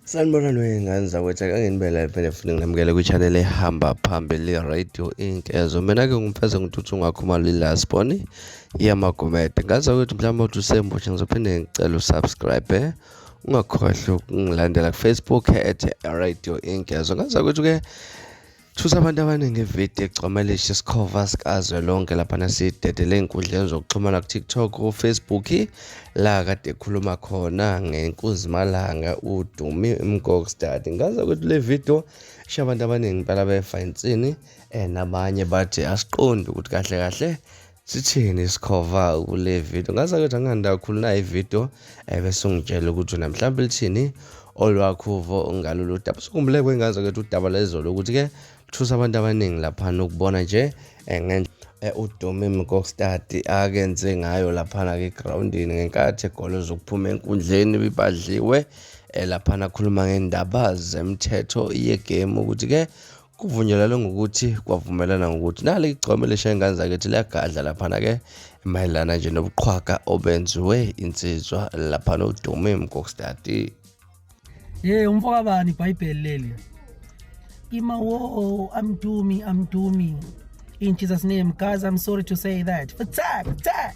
sanibona lwey'ngane zakwethu akanginibela phela futhi nginamukele kwi-channel ehamba phambili radio inc ezo mina-ke ngumfeze ngithuthi ungakhumalo ilasboni iyamagomede ngaza kwethu mhlawumbe uthi usemusha ngizophinde ngicela usubscribe eh? ungakhohlwa ukungilandela kufacebook at radio inc ezo ngaza kwethu-ke Thusa abantu abaningi ividiyo egcwamelisha isikhova sikazwelonke lapha nasidedele ey'nkundleni zokuxhumana ku-tiktok ufacebook la kade ekhuluma khona ngenkuzimalanga udumi mgokstad ngaze ukuthi le vidiyo isho abantu abaningi impela befa insini um nabanye bathi asiqondi ukuthi kahle kahle sithini isikhova kule video ngaze ngithi angihanda kakhulu nayo ivideo ebese eh, ungitshela ukuthi wena mhlawumbe lithini olwakho uvo ngalolu daba sukhumbule kwengaze kethu udaba lezolo ukuthi-ke luthusa abantu abaningi laphana ukubona nje eh, ngendlela eh, udomi mkokstadi akenze ngayo laphana-ke egrawundini ngenkathi egolo zokuphuma enkundleni bibadliwe laphana akhuluma ngendaba zemthetho yegame ukuthi-ke Kuvunyelwane ngokuthi kwavumelana ngokuthi nale igcome lishaye ingane zakithi liyagadla laphana-ke mayelana nje nobuqhwaga obenziwe insizwa laphana udume mkokstati ye umfokabani ibhayibheli leli ima wo amdumi amdumi in jesus name guys i'm sorry to say that fatak fatak